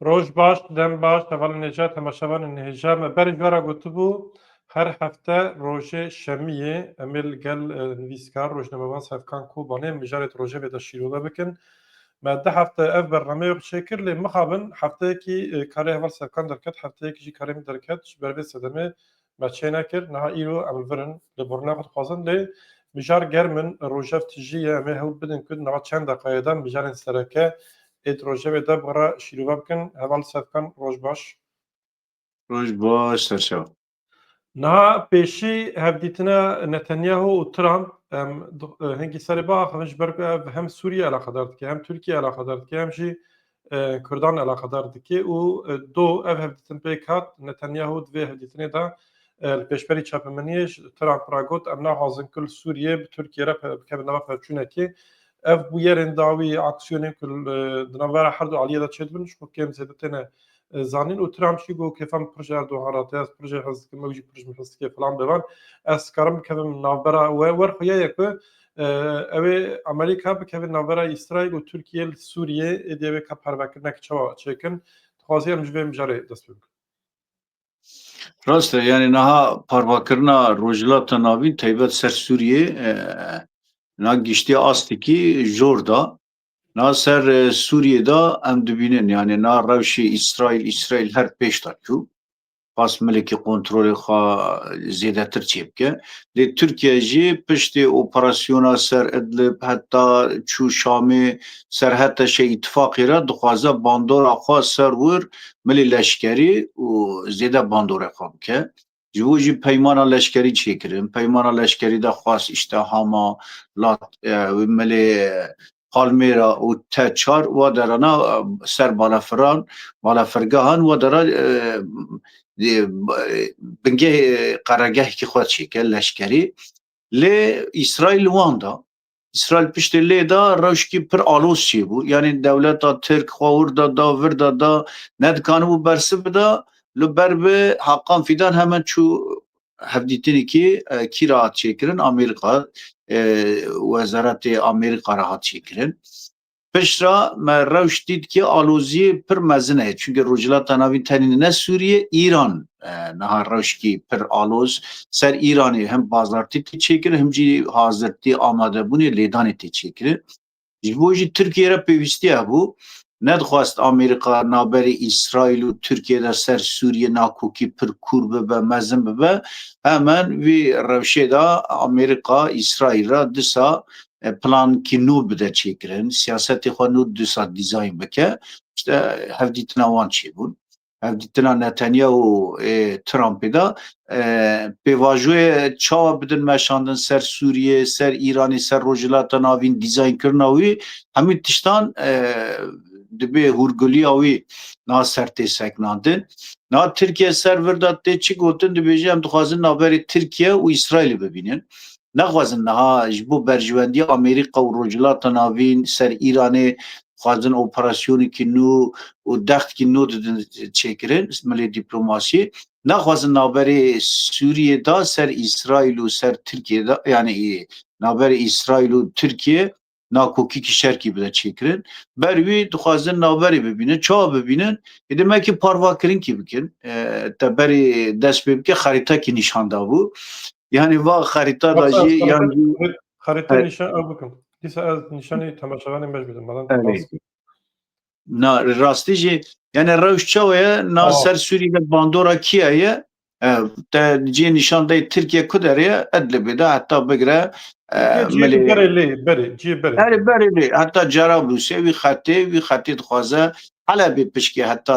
Roj baş, dem baş, heval necat hemaşevan nêja me berê jara gotibû her hefte rojê şemiyê em ê li gel nivîskar, rojnamevan, sevkan, kobanê mijarê di rojevê de şîrove bikin. Me du hefte ev bernameya xwe çêkir lê mixabin hefteyekî karê heval sevkan derket, hefteyekî jî karê min derket ji ber vê sedemê me çênekir. Niha îro em li vir in lê bornaya xwe dixwazin lê mijar germ in rojev tijî ye em ê hewl bidin ku di nava çend deqayê de mijarên sereke ê di rojevê de bi re şîrove bikin. Heval sevkan roj baş. Roj baş serçe. Niha pêşî hevdîtina Netanyahu û Trump em hingî serê biaxivin ji ber ku ev hem Sûriye eleqedar dike, hem Tirkiye eleqedar dike, hem jî Kurdan eleqedar dike û do ev hevdîtin pêk hat Netanyahu di vê hevdîtinê de li pêşberî çapemeniyê ji Trump re got em naxwazin ku li Sûriye bi Tirkiye re bikevin nava pevçûnekê. Ev bûyerên dawî aksiyonên ku di navbera herdu aliyê de çêdibin ji bo kêm zêde têne زانین û Trump jî got kêfa min pir ji Erdogan re tê, ez pir jê hez dikim, ew jî pir ji min hez dike filan bevan. Ez karim bikevim navbera we wer xuya ye ku ew ê Amerîka bikeve navbera Îsraîl û Tirkiyê li Sûriyê ê dê wê ka pervekirinek çawa çêkin. Dixwazî em ji vê mijarê dest pê bikin. Rast e yanî niha parvakirina Rojhilata Navîn taybet ser Sûriyê na giştiya astekî jor da. Na ser Sûriyê de em dibînin yanî na rewşê Îsraîl Îsraîl her pêş de çû. Xas milekî kontrolê xwe zêdetir çê bike. Lê Tirkiye jî piştê operasyona ser Idlib heta çû Şamê ser heta şe îtîfaqê re dixwaze bandora xwe ser wir milê leşkerî û zêde bandorê xwe bike. Ji bo jî peymana leşkerî çêkirin. Peymana leşkerî de xwest îşte Hama, Lat, Milê Palmêra û te çar wa derana ser balafiran, balafirgehan wa dera bingehê qeregehekî xwe çêkir leşkerî. Lê Îsraîl wan da. Îsraîl piştê lê da rewşkî pir alos çêbû. Yanî dewleta Tirk xwe wir da da, vir da da, nedikanibû bersiv bida. Li ber bi Hakan Fîdan hemen çû hevdîtinekî kî re hat çêkirin? Amerîka, Wezaretê Amerîka re hat çêkirin. Piştre me rewş dît ki aloziyê pir mezin e. Çunke Rojhilata Navîn tenê ne Sûriye, Îran niha rewşkî pir aloz ser Îranê hem bazartî tê çêkirin hem jî hazirtî amadebûnê lêdanê tê çêkirin. Ji bo jî Tirkiye re pêwîstî hebû. Nedixwest Amerîka navberê Îsraîl û Tirkiye de ser Sûriye nakokî pir kûr bibe, mezin bibe. Hemen vî rewşê de Amerîka Îsraîl re disa plankî nû bide çêkirin, siyasetê xwe nû dîsa dîzayn bike, îşte hevdîtina wan çêbûn. Hevdîtina Netanyahu ê Trumpê de pêvajoyê çawa bidin meşandin ser Sûriyê, ser Îranê, ser Rojhilata Navîn, dîzaynkirina wî hemû tiştan dibê hûrgiliya wî niha ser tê sekinandin. Niha Tirkiye ser vir de tê çi gotin, dibêje em dixwazin naberê Tirkiye û Îsraîlê bibînin. Naxwazin niha ji bo berjwendiya Amerîka û Rojhilata Navîn ser Îranê dixwazin operasyonekî nû û dextkî nû didin çêkirin milê dîplomasiyê. Naxwazin navberê Sûriyê de ser Îsraîl û ser Tirkiyê de yanî navberê Îsraîl û Tirkiyê nakokîkî şerkî bide çêkirin. Ber wî dixwazin navberê bibînin, çawa bibînin? Êdî me ki parvakirinki bikin. E, te berê dest pê bike xerîtekî nîşan dabû. Yani va xerîta da Varsa jî yan jî Xerîteyê Evet. nîşan ew bikim. Dîsa ez nîşanê temaşevanê me jî bidim. Belan Evet. baskî. Na rastî jî yani rewş çawa ye na oh. ser Sûrî de bandora kiya ye te ciyê nîşan deyê Tirkiye ku derê ye Edlibê de heta bigire Herê berê lê heta Cerablûsê wî xetê wî xetê dixwaze Helebê pişkê heta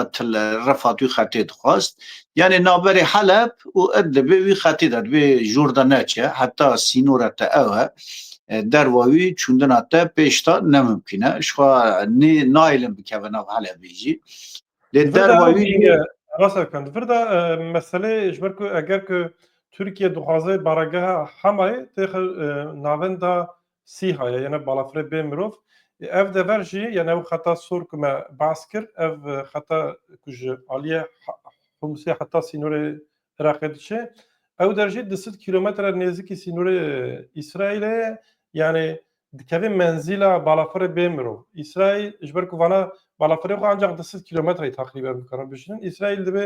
Refat wî xetê dixwast Yanî navberê Heleb û Idlibê wî xetê de divê jor de neçe heta sînora te ew e. Derva wî çûndina te pêş de nemimkîn e. Jixwe nê nailin bikeve nav Helebê jî. Lê derva wî jî Rasa kan di vir de meselê ji ber ku eger ku Tirkiye dixwaze baregeha Hemayê têxe navenda Sîha ye yene balafirê bê mirov. Ev dever jî yene ew xeta sor ku me behs kir, ev xeta ku ji aliyê Humsê heta sînorê Iraqê diçe, ew der jî du sed kîlometre nêzikî sînorê Îsraîlê ye, yanî dikeve menzîla balafirê bê mirov. Îsraîl ji ber ku vana balafirê xwe ancaq du sed kîlometreyê teqrîben bikarin bişînin, Îsraîl divê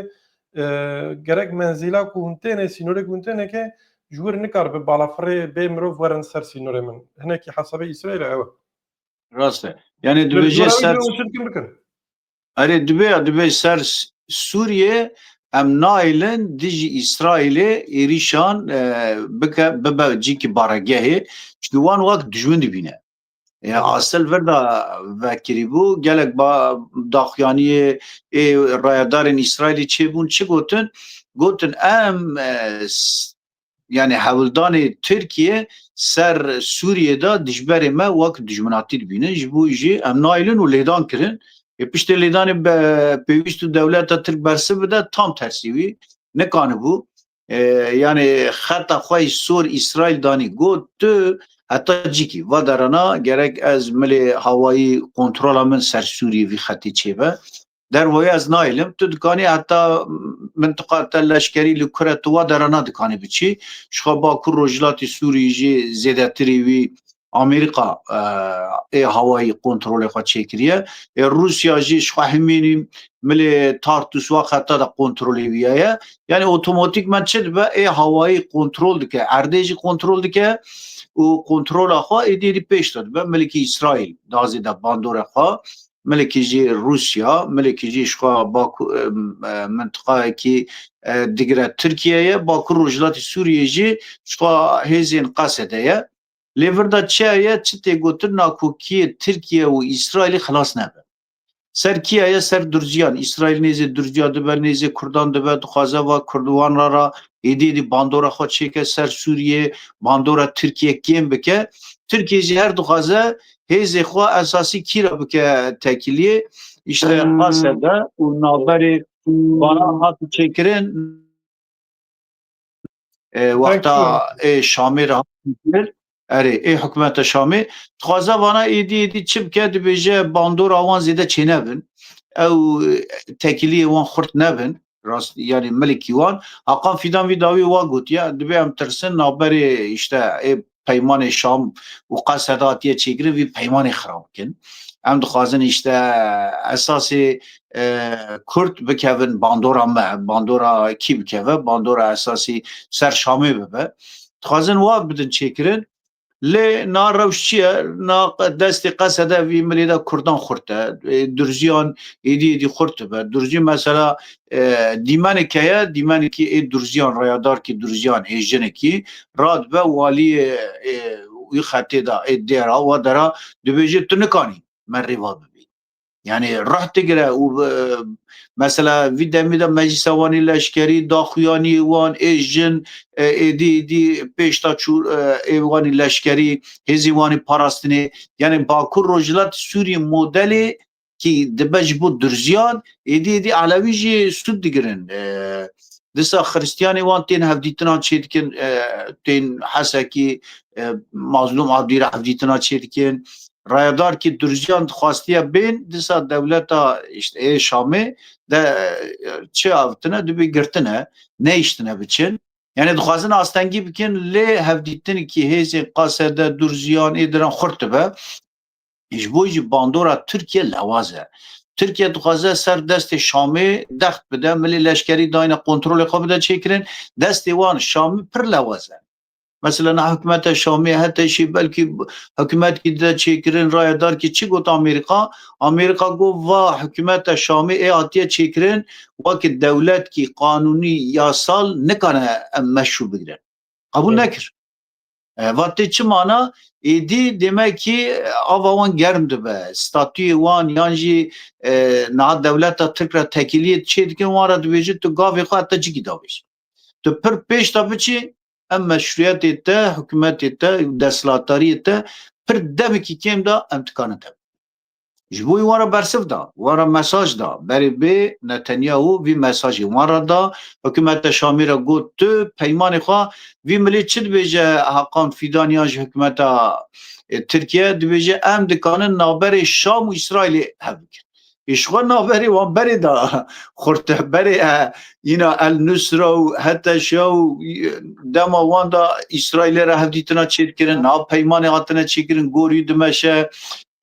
Gerek menzîla ku hûn têne sînorê ku hûn têne ke ji wir nikaribe balafirê bê mirov werin ser sînorê min. Hinekî hesabê Îsraîlê ew e. Rast e. Yanê dibêje ser Erê dibe ya dibe ser Sûriyê em nailin dijî Îsraîlê êrîşan bike bibe cîkî baregehê. Çikî wan wak dijmin dibîne. Ya asil virda vekirîbû gelek daxuyaniyê ê rayedarên Îsraîlî çêbûn çi gotin? Gotin em yani hewldanê Tirkiye ser Sûriyê de dijberê me wek dijminatî dibînin ji bo jî em nailin û lêdan kirin. Ê piştê lêdanê pêwîst û dewleta Tirk bersiv bide tam tersî wî nikanibû. Yanê xeta xwe yî sor Îsraîl danî got tu heta cîkî va derana gerek ez milê hawayî kontrola min ser Sûrî vî xetê çêbe. Dervoyê ez nayêlim tu dikanî heta mintiqa te leşkerî li kur e tu va derana dikanî biçî. Jixwe bakur rojhilatê Sûrî jî zêdetirî wî Amerîka ê hawayî kontrolê xwe çêkiriye. Ê Rûsya jî ji xwe himînî milê Tartus wa xeta de kontrolê wî ye. Yanî otomatîkman çi dibe ê hawayî kontrol dike, erdê jî kontrol dike û kontrola xwe êdî êdî pêş de dibe. Milekî Îsraîl da zêde bandorê xwe, milekî jî Rûsya, milekî jî ji xwe bakur mintiqayekî digire Tirkiyeyê, bakur rojhilatê Sûriyeyê jî ji xwe hêzên Qesede ye. Lê virda çiya ye çi tê gotin nakokiyê Tirkiye û Îsraîlî xilas nebe. Ser kiya ye ser Durciyan, Îsraîl nêzê Durciya dibe, nêzê Kurdan dibe, dixwaze va Kurd wan ra ra êdî êdî bandora xwe çêke ser Sûriyê, bandora Tirkiye kêm bike. Tirkiye jî her dixwaze hêzê xwe esasî kî ra bike tekiliyê. Îşte qase be û navberê vanan hate çêkirin. wexta ê Şamê re hatin erê ê hikûmeta Şamê dixwaze vana êdî êdî çi bike dibêje bandora wan zêde çênebin ew tekîliyê wan xurt nebin rast yanî milikî wan Haqan Fîdan vî dawî wa gotiye dibê em tirsin navberê îşte ê peymanê Şam û Qeseda hatiye çêkirin vî peymanê xirab bikin. Em dixwazin îşte esasê Kurd bikevin bandora me, bandora kî bikeve, bandora esasî ser Şamê bibe. Dixwazin wa bidin çêkirin lê na rewş çi ye na destê Qesede vî milê de Kurdan xurt e. Durziyan êdî êdî xurt dibe. Durzî mesela Dîmenê keye, dîmenekî ê Durziyan, Reyadarkî Durziyan ê jinekî ra dibe waliyê ê wî xetê de ê dê ra wa de ra dibêje tu nikanî me rêva bibî. Yanî rih digire û mesela vî demê de Meclîsa Wanê Leşkerî da xuyanî wan ê jin êdî êdî pêş da çû ê wanî leşkerî hêzî wanî parastinê. Yanî Bakur Rojhilatê Sûriyê modelê ki dibe ji bo durziyan êdî êdî Elewî jî sud digirin disa Xristiyanê wan tên hevdîtinan çê dikin tên hesekî mazlûm Abdîr hevdîtina çê dikin rayadar ki durziyan dixwastiye bên disa dewleta işte ê Şamê de çi avtine dibê girtine neyiştine biçin Yani dixwazin astengî bikin lê hevdîtin ki hêzên qasede durziyan ê diran xurt dibe Ji bo jî bandora Tirkiye lewaz e. Tirkiye dixwaze ser destê Şamê dext bide, milê leşkerî dayne kontrolê xwe bide çêkirin. Destê wan Şamê pir lewaz e. Mesela niha hikûmeta Şamê heta jî belkî hikûmetkî dide çêkirin, rayedarkî çi got Amerîka? Amerîka got va hikûmeta Şamê ê hatiye çêkirin wekî dewletkî qanûnî, yasal nikane em meşrû bigirin. Qebûl nekir. Vat tê çi mana? Êdî demekî ava wan germ dibe, statuyê wan yan jî niha dewleta Tirk re tekîliyê çê dikin wan re dibêjin tu gavê xwe heta cikî dabêjî. Tu pir pêş de biçî em meşrûyetê te, hikûmetê te û desthilatdariyê te pir demekî kêm de em dikarin tevbînin. Ji bo wî wan re bersiv da, wan re mesaj da. Berê bê Netanyahu vî mesajê wan re da. Hikûmeta Şamê re got, Tu peymanê xwe vî milê çi dibêje? Hakan Fîdan yan ji hikûmeta Tirkiye dibêje, Em dikarin navberê Şam û Îsraîlê hev bikin. Îşxwe navberê wan berê da xurtehberê yîna El Nusra û HTŞ û dema wan da Îsraîlê re hevdîtina çêdikirin. Niha peymanê hatine çêkirin gorî dimeşe.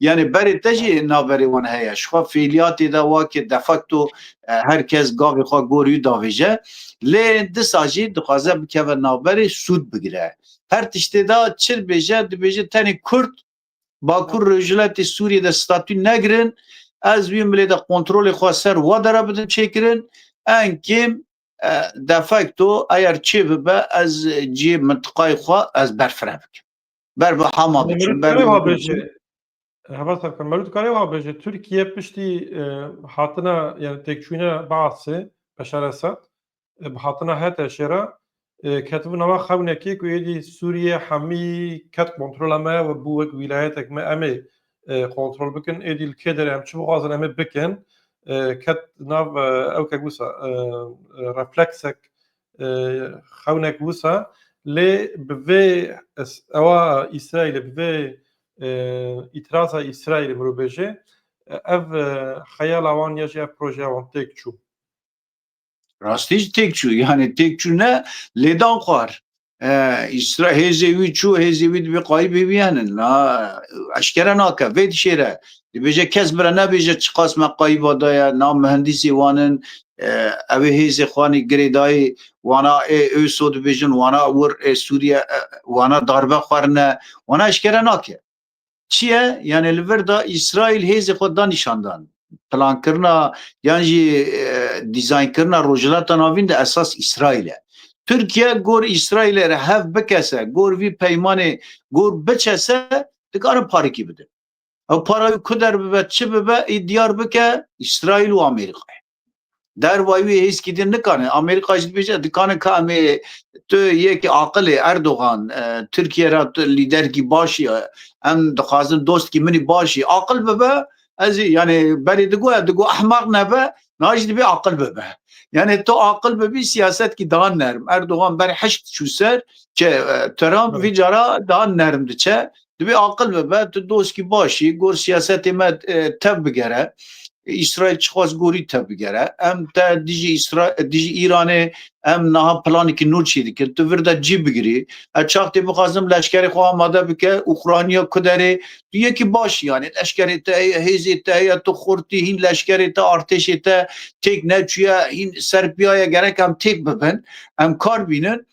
Yanî berê te jî naverê wan heye. Ji xwe fêliyatê de wake de facto her kes gavê xwe gorî û davêje. Lê disa jî dixwaze bikeve naverê sûd bigire. Her tiştê de çir bêje dibêje tenê Kurd Bakur Rojhilatê Sûriyê de statû negirin. Ez wî milê de kontrolê xwe ser we de re bidim çêkirin. Eng kêm de facto eyer çêbibe ez cihê mintiqayê xwe ez berfireh bikim. ber bi hama Hani biçûn, Mevlût ber bi Karewa hûn biçûn. bêje. Heva serkan Mevlût Karewa bêje Tirkiye piştî e, hatina yani têkçûna Baasê Beşar Esad e, bi hatina HTŞ'ê re e, ketibû nava xewnekê ku êdî Sûriye hemî ket kontrola me û bû wek wîlayetek me em ê e, kontrol bikin êdî li kê derê em çi bixwazin em ê bikin e, ket nav e, ew ke wisa e, e, refleksek xewnek wisa lê bi vê ewa Îsraîlê bi vê îtiraza Îsraîlê mirovbêjê ev xeyala wan ya jî ev projeya wan têk çû. Rastî jî têk çû yanê têk çû ne lêdan xwar. Îsra hêzê wî çû hêzê wî dibê qayî bêbiyanin na eşkere nake vê dişêre dibêje kes bira nebêje çiqas me qayî vadaya na mihendîsê wanin Ew ê hêzê Xanê girê dayê wana ê Öso dibêjin, wana wir ê Sûriye, wana darbe xwerine, wana eşkere nake. Çi ye? Yanê li vir de Îsraîl hêzê xwe da nîşandan. Plankirina yan jî dîzaynkirina Rojhilata Navîn de esas Îsraîl e. Tirkiye gor Îsraîlê re hev bikese, gor vî peymanê gor biçese dikarin parikî bidin. Ew para wî ku derbibe çi bibe ê diyar bike Îsraîl û Amerîkayê. Dervayî wê hêzkî din nikane Amerîka jî dibêje dikane ka em ê tu yekî aqilê Erdogan Tirkiye ra tu lîderkî başî ye em dixwazin dostkî min î başî aqil bibe ez ê yanê berê digoya digo ehmaq nebe na jî dibê aqil bibe. Yanê tu aqil bibî siyasetkî daha nerm Erdogan ber hişk çû ser ke Trump vî cara daha nerm diçe Divê aqil bibe, tu doskî baş î, gor siyasetê me tev bigere. Îsraîl çixwest gorî tev bigere. Em te dijî Îsra dijî Îranê em niha planekî nû çî dikin. Tu vir de cî bigirî. Ez çax tê bixwazim leşkerê xwe amade bike Ukrayna ku derê. Tu yekî baş î yanê leşkerê te heye, hêzê te heye, tu xurtî hîn leşkerê te, artêşê te têk neçûye, hîn serpiyaye gerek em têk bibin, em kar bînin.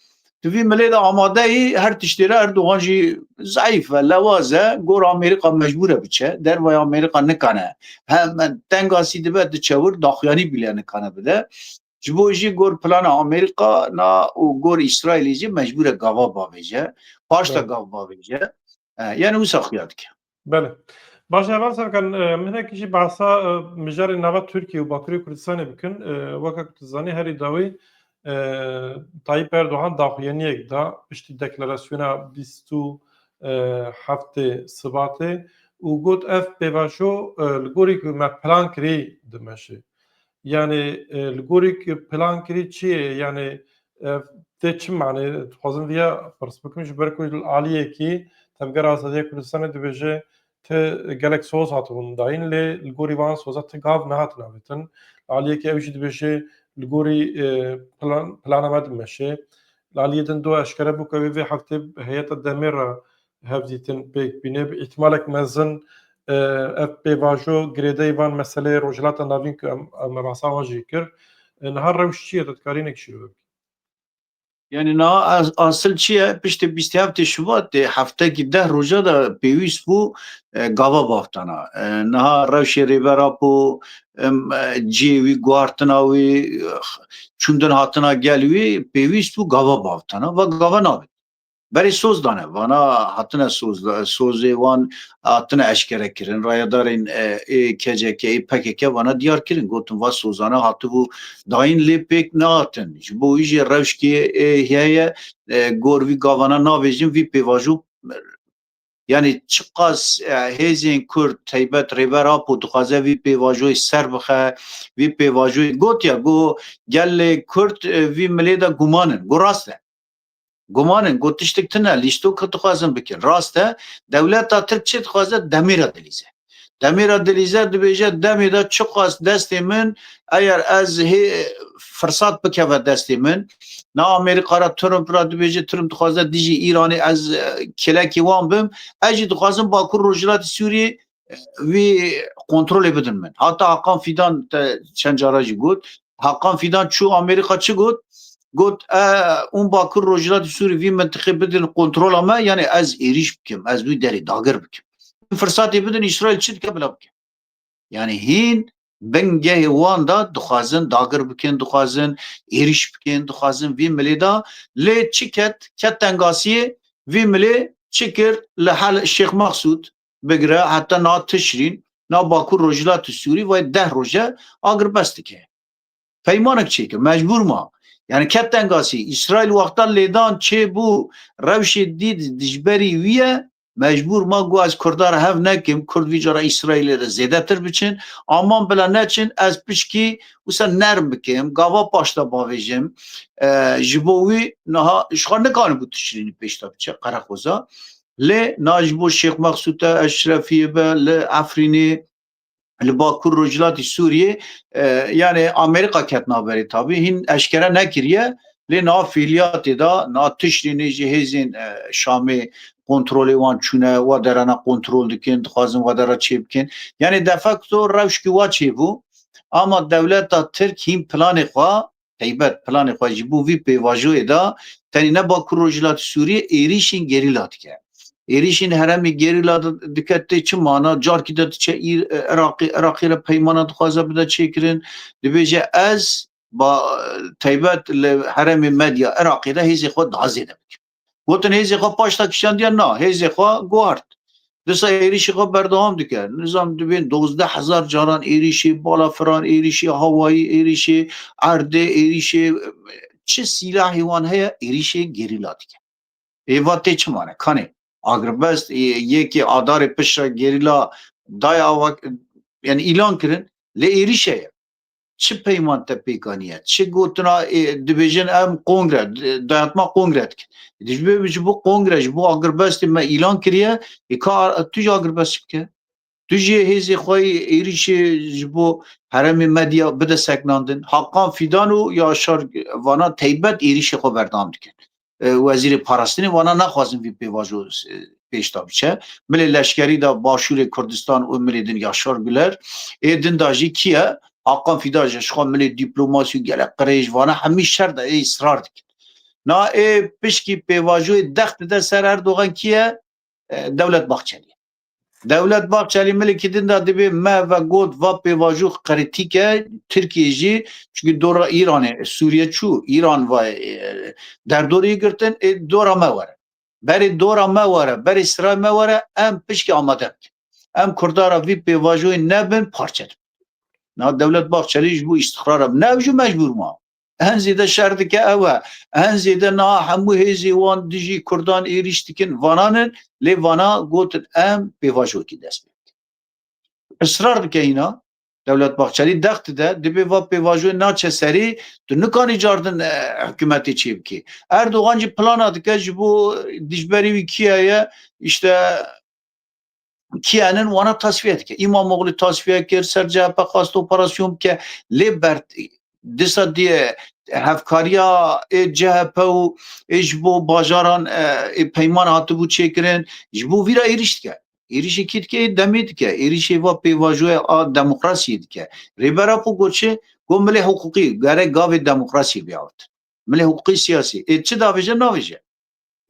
Di vî milê de amadeyî her tiştê re Erdogan jî zayîf e, lewaz e, gora Amerîka mecbûr e biçe, dervaya Amerîka nikane hem tengasî dibe diçe wir daxuyanî bîle nikane bide. Ji bo jî gor plana Amerîka na û gor Îsraîlê jî mecbûr e gava bavêje, paşta gav bavêje. Yani wisa xuya dike. Bele. Baş eval serkan minek jî bahsa mijarê nava Tirkiye û Bakurê Kurdistanê bikin. Weke ku tu zanî herî dawî Tayyip Erdogan daxuyaniyek da piştî deklarasyona bîst û heftê Sibatê û got ev pêvajo li gorî ku me plan kirî dimeşê. Yanê li gorî plan kirî çi yê yanê ev tê çi manê dixwazin viya pirs bikim ji ber ku li aliyekî Tevgera Azadiya Kurdistanê dibêje ti gelek soz hatibûn dayîn lê li gorî van soza ti gav nehatin avêtin. Li aliyekî ew jî dibêje li gorî plana me dimeşê. Li aliyê din dua eşkere bû ku ew ê vê heftê heyeta demê re Hevdîtin pêk bîne bi îhtimalek mezin ev pêvajo girêdayî van meseleyê Rojhilata Navîn ku em em rasa wan jî kir. Niha rewş çi ye tu dikarî ne kişîrove bikî? Yanî niha asil çi ye piştî bîst heftê Şubatê heftekî deh roja de pêwîst bû gava baxtana. Niha rewşê Rêber Apo cihê wî guhartina wî çûndin hatina gel wî pêwîst bû gava baxtana va gava nabit. Berê soz dane vana hatine soz sozê wan hatine eşkere kirin rayedarên ê KCK ê PKK vana diyar kirin gotin va sozana hatibû dayîn lê pêk nehatin ji bo wî jê rewşkê heye gor vî gavana navêjin vî pêvajo yanî çiqas hêzên Kurd teybet Rêber Apo dixwaze vî pêvajoyê ser bixe vî pêvajoyê gotiya got gelê Kurd vî milê de gumanin got rast e Guman in got tiştik tune lîstok ki dixwazin bikin. Rast e dewleta Tirk çi dixwaze demêra dilîze. Demêra dilîze dibêje demê de çi xwast destê min eyer ez hê firsat bikeve destê min na Amerîka ra Trump ra dibêje Trump dixwaze dijî Îranê ez kelekê wan bim ez jî dixwazim Bakur Rojhilatê Sûriyê wî kontrolê bidin min. Hata Hakan Fîdan te çend cara jî got. Hakan Fîdan çû Amerîka çi got? Got e ûn Bakur Rojhilatê Sûrî vî mintiqê bidin kontrola me yanê ez êrîş bikim, ez wî derê dagir bikim. Firsatê bidin Îsraîl çi dike bila bike. Yani hîn bingehê wan da dixwazin dagir bikin, dixwazin êrîş bikin, dixwazin vî milê da lê çi ket ket tengasiyê vî milê çi kir li hel Şêx Mexsûd bigire heta na tişrîn na bakur rojhilatê Sûrî vay deh roje agirbest dike. Peymanek çêke mecbûr ma. Yani ket tengasî İsrail wexta lêdan çê bû rewşê dîd dijberî wî ye mecbûr ma got ez Kurda re hev nekim, Kurd vî cara İsrailê re zêdetir biçin, aman bila neçin ez pişkî wisa nerm bikim, gava paş de bavêjim. Ji bo wî niha ji xwe nikanibû tişrînî pêş de biçe Qereqoza. Lê na ji bo Şêx Mexsûte Eşrefiyê be li Efrînê li Bakur Rojhilatî Sûriyê yanê Amerîka ket naberê tabî hîn eşkere nekiriye lê na fîliyatê da na tiştê nê jî hêzên Şamê kontrolê wan çûne wa derana kontrol dikin dixwazin wa dera çê bikin yanê defekto rewşkî wa çêbû ama dewleta Tirk hîn planê xwe Heybet planê xwe ji bo vî pêvajoyê da, tenê ne Bakur Rojhilatê Sûriyê êrîşên gerîla dike. Êrîşên heremê gerîla dike tê çi mana? Carkî de diçe îr Iraqê, Iraqê re peymanan dixwaze bide çêkirin. Dibêje ez ba taybet li heremê medya Iraqê de hêzê xwe dazêde bikim. Gotin hêzê xwe paş da kişandiye na hêzê xwe guhart. Disa êrişî xwe berdewam dike. Nizam dibên dozdeh hezar caran êrişê, bala firan êrişê, hawayî êrişê, erdê êrişê çi sîlahê wan heye êrişê gerîla dike. Êva tê çi mane? Kanê Agrbest yekê adarê pişra gerîla daya yani îlan kirin lê êrişe ye. Çi peyman te pêkaniye? Çi gotina dibêjin em kongre dayatma kongre dikin. Dijbê ji bo kongre ji bo agirbestê me îlan kiriye ê ka tu jî agirbestî bike. Tu jî hêzê xwe êrîşê ji bo heremê medya bide seknandin. Hakan Fîdan û Yaşar Vanan teybet êrîşê xwe berdam dikin. Wezîrê Parastinê wana naxwazin vî pêvajo pêş de biçe. Milê leşkerî de Başûrê Kurdistan û milê din Yaşar Guler. Ê din de jî kî ye? Hakan Fîdan ji xwe milê dîplomasî û gelek qirêj vana hemî şer de ê israr dikin. Na ê pişkî pêvajoyê dex dide ser Erdogan kî ye? Dewlet Bahçelî ye. Dewlet Bahçelî milê kî din da divê me ve got va pêvajox qeritîke Tirkiyê jî çunkî dora Îranê Sûriye çû Îran va derdorî girtin ê dora me were. Berê dora me were berê siray me were em pişkî amade bikin. Em kurdara vî pêvajoyê nebin parçe dibin. Na Dewlet Bahçelî ji bo îstiqrara bi ne ew jî mecbûr ma. Hin zêde şer dike ew e. Hin zêde niha hemû hêzê wan dijî Kurdan êrîş dikin vanan in lê vana gotin em pêvajoyekî dest pê bikin. Israr dike hîna Dewlet Bahçelî dex dide dibê va pêvajoyê naçe serê tu nikanî cardin hikûmetê çê bikê. Erdogan jî plana dike ji bo dijberê wî kîya ye îşte kiyanin wana tasfiye dike. İmamoğlu tasfiye kir, ser CHP xwast operasyon bike. Lê bert disa diye hevkariya ê CHP û ê ji bo bajaran ê peyman hatibû çêkirin ji bo vîra êrîş dike. Êrîşê kî dike ê demê dike. Êrîşê va pêvajoya a demokrasiyê dike. Rêbera xwe got çi? Got milê hiqûqî gerek gavê demokrasiyê bêawtin. Milê hiqûqî siyasî. Ê çi davêje navêje.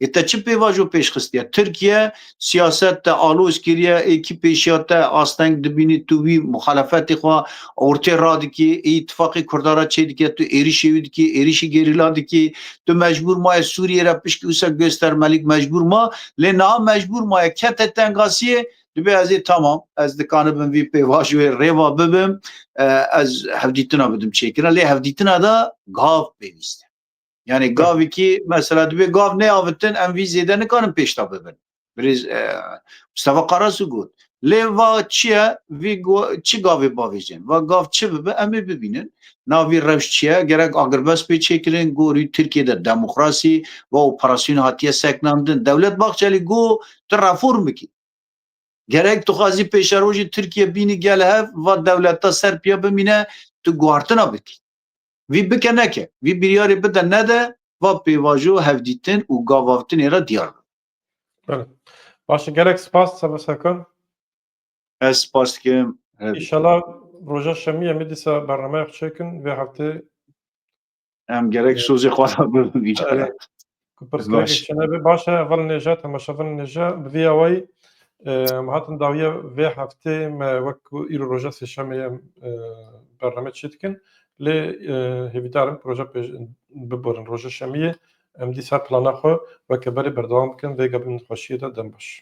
Ê te çi pêvajo pêş xistiye? Tirkiye siyaset te aloz kiriye, ê kî pêşiya te asteng dibînî tu wî muxalefetê xwe ortê radikî, ê îtîfaqê Kurdan re çêdike tu êrîşê wî dikî, êrîşî gerîla dikî. Tu mecbûr maye Sûriyê re pişkî wisa gostermelîk mecbûr ma. Lê niha mecbûr maye kete tengasiyê dibê ez ê tamam ez dikanibim vî pêvajoyê rêva bibim, ez hevdîtina bidim çêkirina. Lê hevdîtina de gav pêwîste. Yani gavikî mesela divê gav neavitin em vî zêde nikarin pêşta bibin. Birêz e, Mustafa Karasu got. Lê va çi ye vî çi gavê bavêjên. Va gav çi bibe em ê bibînin. Navî rewş çi ye gerek agirbest pê çêkirin gorî Tirkiye de demokrasî va operasyon hatiye seknandin. Dewlet Bahçelî got tu reform bikî. Gerek tu xwazî pêşerojî Tirkiye bînî gel hev va dewleta Serpiya bimîne tu guhartina bikî. Vî bike neke, vî biryarê bide nede, va pêvajo hevdîtin û gavavtinê re diyar be. Bele. Baş e gelek spas Seba Serkan. Ez spas dikim. Hevdî. İnşallah roja şemî em ê dîsa bernameya xwe çêkin vê heftê Em gerek sozê xwe re bibin vî care. Ku pirsgirêkek çinebê baş e evel nêje temaşevin nêje bi vî awayî em hatin dawiya vê heftê me wek ku îro roja sêşemê ye bername çê dikin lê hêvîdar im proja pêş biborin roja şemiyê em dîsa plana xwe weke berê berdewam bikin vê gebin xweşiyê de dem baş.